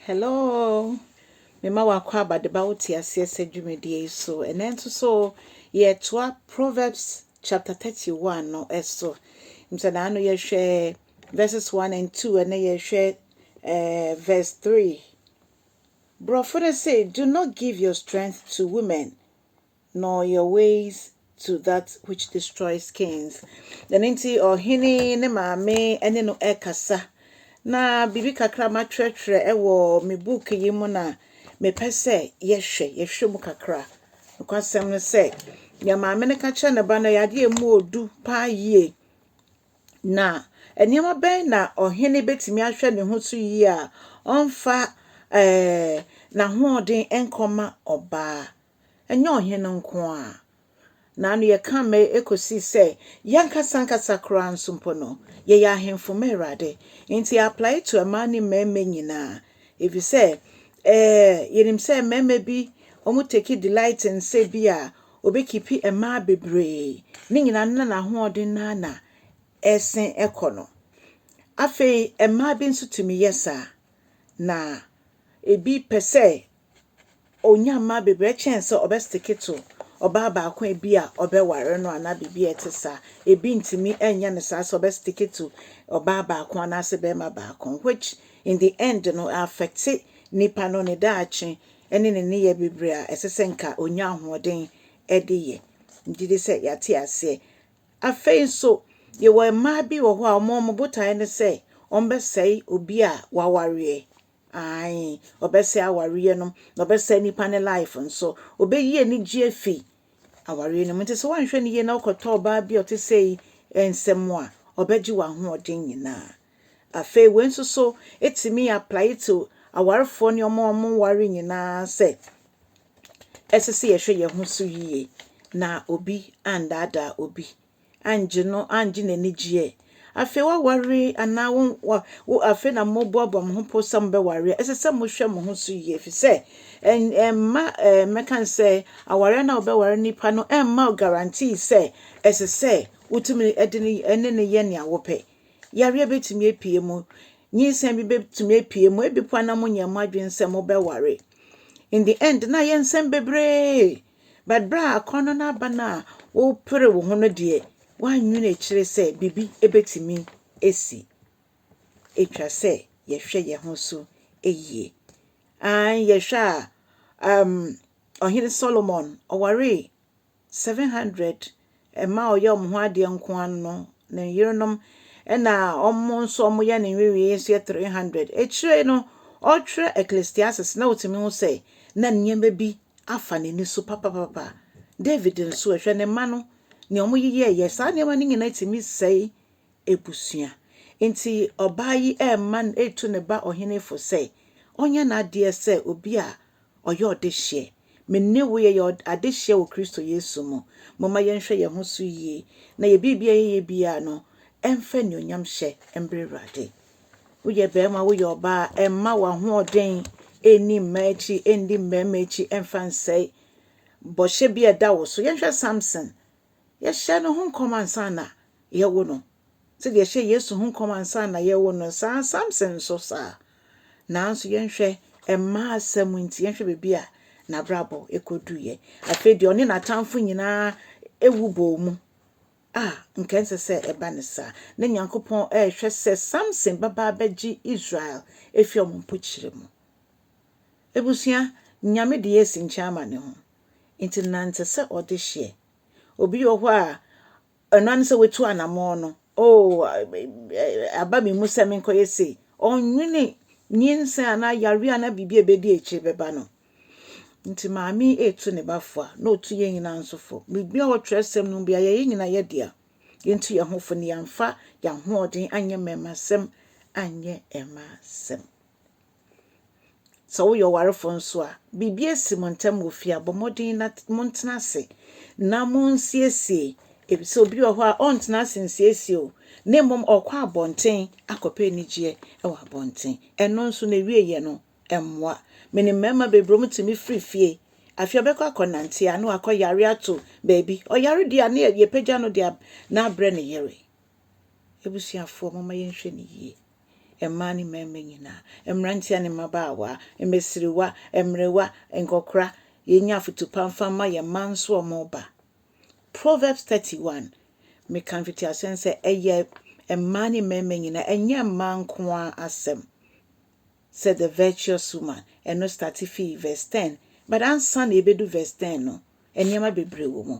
Hello! Mema wo akwaaba de ba wo te aseɛ sɛ dwumadie yi so. Ɛnɛ nso so yɛtoa Proverbs chapter 31 no so. Nti na ano yɛhwɛ verses 1 and 2 ɛnɛ yɛhwɛ eh, verse 3. Borɔfo no se, do not give your strength to women. Nor your ways to that which destroys kings. Ɛno nti, ɔhene yi ne maame ne no rekasa. Na biribi kakra matwerɛtwerɛ wɔ me book yi mu na mepɛ sɛ yɛhwɛ yɛhwɛ mu kakra. Nokwasɛm no sɛ, nea maame no ka kyerɛ ne ba no yɛ adeɛ a ɛmu odu paa yie. Na nneɛma bɛn na ɔhene bɛtumi ahwɛ ne ho so yie a ɔmfa ɛɛ n'ahoɔden nkɔma ɔbaa? ɛnyɛ ɔhene nko ara, na ano yɛka mmɛn kɔsi sɛ yɛn ankasa ankasa koraa nso mpo no, yɛyɛ ahemfo ma Awurade. Enti yɛ apply to mmaa ne mmarima nyinaa, efisɛ eh, yɛnim sɛ mmarima bi wɔn take delight in sɛ bi a wɔbɛkipi mmaa bebree, ne nyinaa no na n'ahoɔden no ara na ɛsen kɔ no. Afei mmaa bi nso tumi yɛ saa, na ebi pɛ sɛ Onya mma bebree kyɛn sɛ ɔbɛsteke to ɔbaa baako a ebia ɔbɛware no anaa biribi a ɛte saa. Ebi ntumi nyɛ no saa sɛ ɔbɛsteke to ɔbaa baako anaasɛ barima baako, which in the end no ɛaffecte nipa no ne daakye ne ne nneyɛe bebree a ɛsɛ sɛ nka onya ahoɔden de yɛ. Megye di sɛ yɛate aseɛ. Afei nso, yɛwɔ mmaa bi wɔ hɔ a wɔn botaeɛ ne sɛ wɔbɛsɛe obi a wawareɛ. Aane, ɔbɛsɛe awareɛ no, na ɔbɛsɛe nipa ne life nso. Ɔbɛyi anigye afi awareɛ no mu. Nti sɛ woanhwɛ no yie na wokɔtɔ ɔbaa bi a ɔte sei nsɛm a, ɔbɛgye w'ahoɔden nyinaa. Afei wei nso so ɛtumi apply to awarefoɔ ne wɔn a wɔnware nyinaa sɛ ɛsɛ sɛ yɛhwɛ yɛn ho so yie na obi andaadaa obi. anngye no, anngye n'enyi gye ɛ. Afei woawar anaa wo wa wo afei na moboaboa mo ho po sɛ mobɛwar a, ɛsɛ sɛ mohwɛ mo ho so yie fi sɛ ɛn ɛmma ɛɛ mɛka no sɛ awareɛ no a wobɛwar nnipa no ɛmma wo guarantee sɛ ɛsɛ sɛ wotumi de ne ɛne no yɛ nea wopɛ. Yareɛ bɛtumi apue mu, nyinsɛn bi bɛtumi apue mu, ebi mpo a na monnyɛɛ mo adwene sɛ mobɛware. In the end na ayɛ nsɛm bebree But berɛ a akɔnnɔ no aba no a wopere wo ho no deɛ, woannwene akyire sɛ biribi bɛtumi asi. Ɛtwa sɛ yɛhwɛ yɛn ho so yie. Aane, yɛhwɛ a, um, Ɔhene Solomon, ɔwaree 700 Mmaa a wɔyɛ wɔn ho adeɛ nko ara no, ne yerenom na wɔn nso wɔyɛ ne nwenwee nso yɛ 300. Akyire no, ɔretwerɛ Ecclesiastes na ɔtumi hu sɛ na nneɛma bi afa n'ani so papapapa. David nso ɛ, hwɛ ne mma no, nea wɔyeyɛeɛ. Saa nneɛma no nyinaa tumi sɛe abusua. Enti ɔbaa yi rema no, retu ne ba ɔhene fo sɛ, ɔnyɛ n'adeɛ sɛ obi a ɔyɛ ɔdehyeɛ. Me ne wo yɛyɛ adehyeɛ wɔ Kristo Yesu mu. Momma yɛnhwɛ yɛn ho so yie, na yɛn biribi a yɛyɛ biara no, ɛmfa anuonyamhyɛ mbrɛ Awurade. Woyɛ barima, woyɛ ɔbaa a, mma w'ahoɔden nni mmaa akyi, nni mmarima akyi, mfa nsɛe bɔhyɛ bi a ɛda wo so. Yɛnhwɛ Samson. yɛhyɛ no ho nkɔm ansa na yɛwo no, sɛdeɛ yɛhyɛ Yesu ho nkɔm ansa na yɛwo no saa, Samson nso saa. Nanso yɛnhwɛ mmaa asɛm nti, yɛnhwɛ baabi a n'abrabɔ ɛkɔduiɛ. Afei deɛ ɔne n'atamfo nyinaa ɛwu bɔɔ mu a nka ɛnsɛ sɛ ɛba ne saa. Na Nyankopɔn ɛrehwɛ sɛ Samson bɛba abɛgye Israel ɛfiri wɔn mpokyerɛ mu. Ebusua, Nyame de yɛsi nkyɛn ama ne ho. Enti nante sɛ ɔdehyeɛ. Obi wɔ hɔ a, ɛno ara ne sɛ watu anammɔn no. Oh, aba me mu sɛ menkɔyɛ sei. Ɔnnwene nyinsɛn anaa yareɛ anaa biribi a ɛbɛdi akyire bɛba no. Nti maame retu ne ba fo a, na ɔtu yɛn nyinaa nso fo. Biribiara wɔ twerɛsɛm no mu biara, yɛyɛ nyinaa yɛ dea. Yɛntu yɛn ho fo na yɛmfa yɛn ahoɔden anyɛ mmarimasɛm anyɛ mmaasɛm. Sɛ woyɛ ɔwarefo nso a, biribi asi mo ntam wɔ fie a, bɔ mmɔden na montena ase na monsiesie, efisɛ obi wɔ hɔ a ɔntena ase nsiesie o, na mmom ɔkɔ abɔnten akɔpɛ anigyeɛ wɔ abɔnten. Ɛno nso n'awieeɛ no mmoa. Menim mmarima bebree wɔn tumi firi fie, afei ɔbɛkɔ akɔnante a na wakɔ yare ato baabi. Ɔyare deɛ a na yɛpagya no de na abrɛ ne yere. Abusuafoɔ, momma yɛnhwɛ no yie. mmaa ne mmarima nyinaa, mmeranteɛ ne mmabaawa, mmasiriwa, mmerewa, nkɔkora, yɛnya afotu pa mfa mma yɛn mma nso a wɔreba. Proverbs 31, meka mfitiaseɛ no sɛ ɛyɛ mmaa ne mmarima nyinaa, ɛnyɛ mmaa nko ara asɛm. Sɛ the virtuous woman, ɛno starte fii verse 10, but ansa na yɛbɛdu verse 10 no, nneɛma bebree wɔ mu.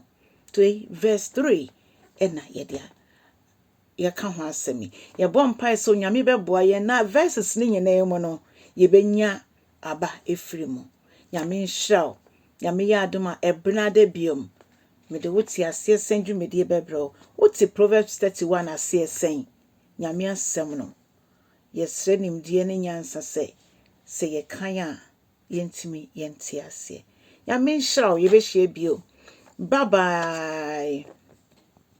Toi, verse 3 ɛna yɛde a. yɛka ho asɛm yi. Yɛbɔ mpae sɛ Onyame bɛboa yɛn na verses no nyinaa mu no, yɛbɛnya aba ɛfiri mu. Nyame nhyira wo. Nyame yɛ adom a, ɛbenada biom, mede wo te aseɛ sɛn dwumadie bɛbrɛ wo. Wote Proverbs 31 aseɛ sɛn? Nyame asɛm no, yɛsrɛ nimdeɛ ne nyansa sɛ, sɛ yɛkan a, yɛntumi yɛnte aseɛ. Nyame nhyira wo. Yɛbɛhyia bio. Bye bye.